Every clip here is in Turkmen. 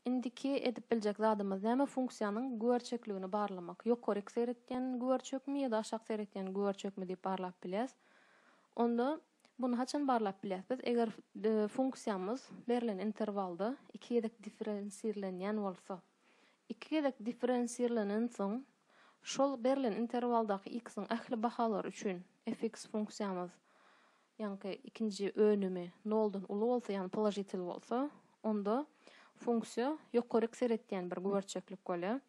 Indiki edip biljek zadymyz näme funksiýanyň güberçekligini barlamak. Ýokaryk seretýän güberçekmi ýa-da aşak seretýän güberçekmi diýip barlap bilýäs. Onda muny haçan barlap bilýäs biz eger funksiýamyz berlen interwalda iki gezek differensirlenýän bolsa. Iki gezek differensirlenensoň şol berlen interwaldaky x-iň ähli bahalary üçin fx funksiýamyz ýaňky ikinji önümi noldan uly bolsa, ýagny položitel bolsa, onda funksiýa ýokaryk seretýän bir güberçeklik bolýar.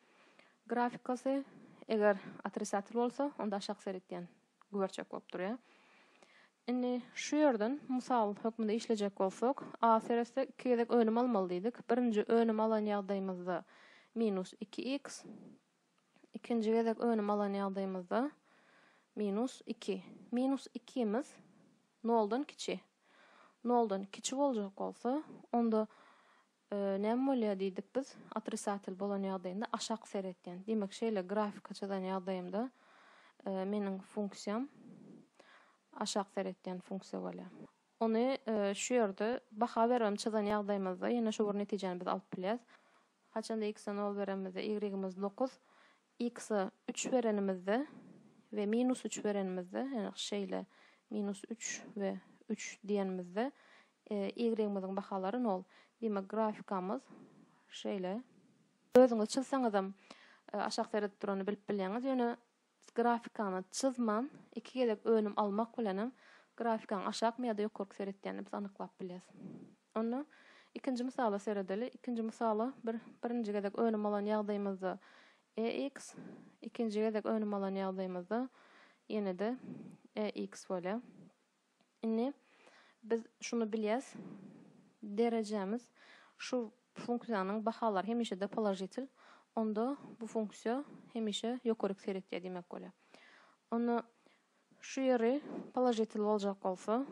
Grafikasy eger otrisatel bolsa, onda aşak seretýän güberçek bolup durýar. Indi şu ýerden mysal hökmünde işlejek bolsak, a seretsek iki gezek önüm almaly diýdik. Birinji önümi alan ýagdaýymyzda minus iki x, Ikinji gezek önüm alan ýagdaýymyzda minus iki. Minus ikimiz noldan kiçi. Noldan kiçi boljak bolsa, onda näme bolýar diýdik biz? Otrisatel bolan ýagdaýynda aşak seretýän. Diýmek, şeýle grafika çyzan ýagdaýymda meniň funksiýam aşak seretýän funksiýa bolýar. Ony şu ýerde baha bermem çyzan ýagdaýymyzda ýene şu bir netijäni biz alyp bilýäs. Haçanda x-e nol berenimizde y-imiz dokuz, x-e üç berenimizde we minus üç berenimizde, ýagny şeýle minus üç we üç diýenimizde y-imiziň bahalary nol. Diýmek, grafikamyz şeýle. Özüňiz çyzsaňyzam aşak seredip durany bilip bilýäňiz, ýöne Biz grafikaňy çyzman, iki gezek önüm almak bilen hem grafikaň aşakmy ýa-da ýokarky seretýänini biz anyklap bilýäs. Onda ikinji mysala seredeli. Ikinji mysala bir birinji gezek önüm alan ýagdaýymyzda EX, ikinji gezek önüm alan ýagdaýymyzda ýene-de EX bolýar. Indi biz şuny bilýäs, derejämiz şu funksiýanyň bahalary hemişe-de položitel, onda bu funksiýa hemişe ýokaryk seretýär diýmek bolýar. Onda şu ýeri položitel boljak bolsa,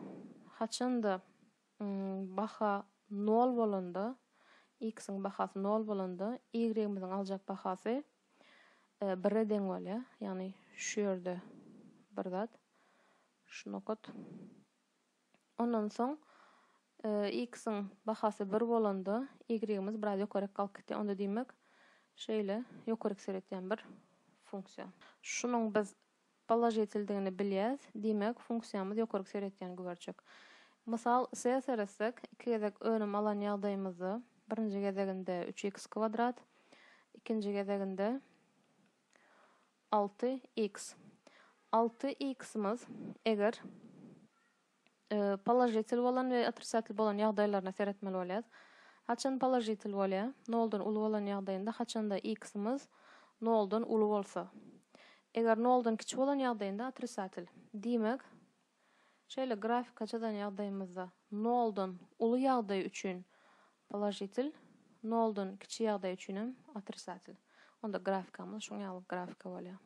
haçan-da baha nol bolanda, x-iň bahasy nol bolanda, y-imiziň aljak bahasy bire deň bolýar. Ýagny şu ýerde bir zat, şu nokat. Ondan soň x-iň bahasy bir bolanda, y-imiz biraz ýokaryk galyp gitýär. Onda diýmek, şeýle ýokaryk seretýän bir funksiýa. Şunuň biz Položitildigini bilýäs, diýmek, funksiýamyz ýokaryk seretýän güberçek. Mysal, se seretsek, iki gezek önüm alan ýagdaýymyzda, birinji gezeginde üç iks kwadrat, ikinji gezeginde alty iks. Alty iksimiz, eger. Položitel bolan we otrisatel bolan ýagdaýlaryna seretmeli bolýarys. Haçan položitel bolýar? Noldan uly bolan ýagdaýynda haçanda x-imiz noldan uly bolsa. Eger noldan kiçi bolan ýagdaýynda otrisatel. Diýmek, şeýle grafika çyzan ýagdaýymyzda noldan uly ýagdaý üçin položitel, noldan kiçi ýagdaý üçin hem otrisatel. Onda grafikamyz şuň ýaly grafika bolýar.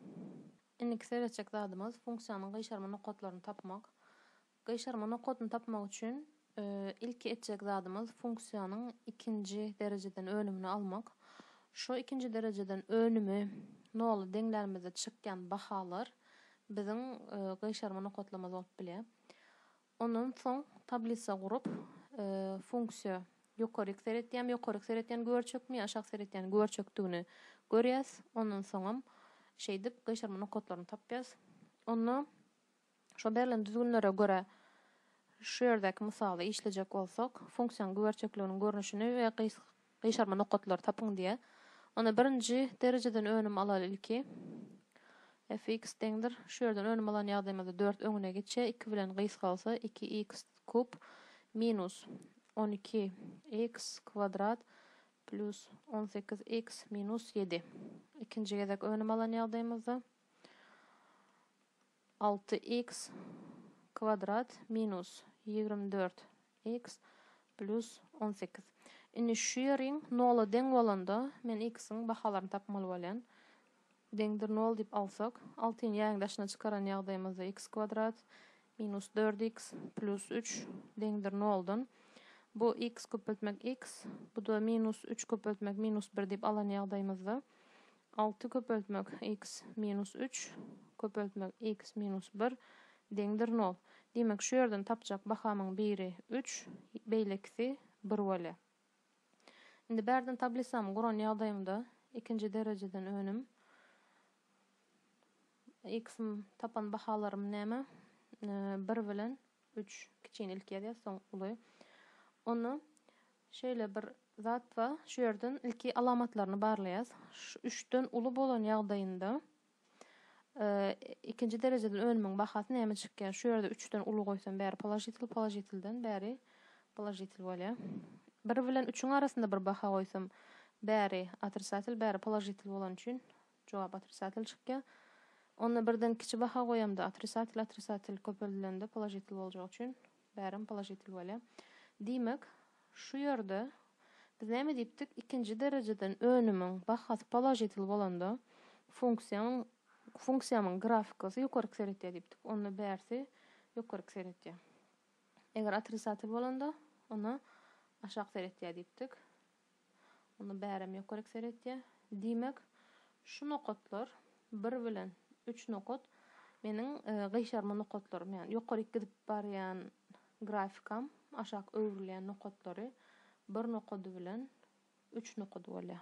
Indiki seretjek zadymyz funksiýanyň gyşarma nokatlaryny tapmak. Gyşarma nokatyny tapmak üçin ilki etjek zadymyz funksiýanyň ikinji derejeden önümini almak. Şu ikinji derejeden önümi nola deňlänimizde çykýan bahalar biziň gyşarma nokatlarymyz bolup bilýär. Ondan soň tablisa gurup, funksiýa ýokaryk seretýämi, ýokaryk seretýäni görçekmi, aşak seretýäni görçekdigini görýäs. Ondan soňam şeýdip gyşarma nokatlaryny tapýas. Onda şo berlen düzgünlere görä şu ýerdäki mysaly işlejek bolsak, funksiýanyň görçekliginiň görnüşini we Gyşarma nokatlary tapyň diýýär. Onda birinji derejeden önüm alaly ilki. Fx deňdir. Şu ýerden önüm alan ýagdaýymyzda dört öňüne geçýär. Iki bilen gysgalsa iki iks kub minus on iki iks kwadrat plýus on sekiz iks minus ýedi. Ikinji gezek önüm alan ýagdaýymyzda. Alty iks kwadrat minus ýigrimi dört iks plýus on sekiz. Indi şu ýeriň nola deň bolanda men iksiň bahalaryny tapmaly bolýan. Deňdir nol diýip alsak, altyny ýägiň daşyna çykaran ýagdaýymyzda iks kwadrat minus dört iks plýus üç deňdir noldan. Bu iks köpeltmek iks, bu-da minus üç köpeltmek minus bir diýip alan ýagdaýymyzda Alty köpeltmek iks minus üç köpeltmek iks minus bir deňdir nol. Diýmek, şu ýerden tapjak bahamyň biri üç, beýlekisi bir bolýar. Indi bärden tablisamy guran ýagdaýymda ikinji derejeden önüm iks tapan bahalarym näme? Bir bilen Üç kiçini ilki ýazýas soň uly. Onda şeýle bir zat bar, şu ýerden ilki alamatlaryny barlaýas. Şu üçden uly bolan ýagdaýynda ikinji derejeden önümiň bahasy näme çykýar? Şu ýerde üçden uly goýsam bäri položitel, položitelden bäri položitel bolýar. Bir bilen üçiň arasynda bir baha goýsam bäri otrisatel, bäri položitel bolany üçin Jogap otrisatel çykýar. Onda birden kiçi baha goýamda otrisatel otrisatel köpeldilende položitel boljagy üçin bärem položitel bolýar. Diýmek, şu ýerde biz näme diýipdik, ikinji derejeden önümiň bahasy položitel bolanda funksiýanyň funksiýamyň grafikasy ýokaryk seretýär diýipdik. Onda bärsi ýokaryk seretýär. Eger otrisatel bolanda, onda aşak seretýär diýipdik. Onda bärem ýokary ekser etýär. Diýmek, şu nokatlar, bir bilen üç nokat meniň gyşarma nokatlarym, ýagny ýokaryk gidip barýan grafikam, aşak öwrülýän nokatlary bir nokady bilen üç nokady bolýar.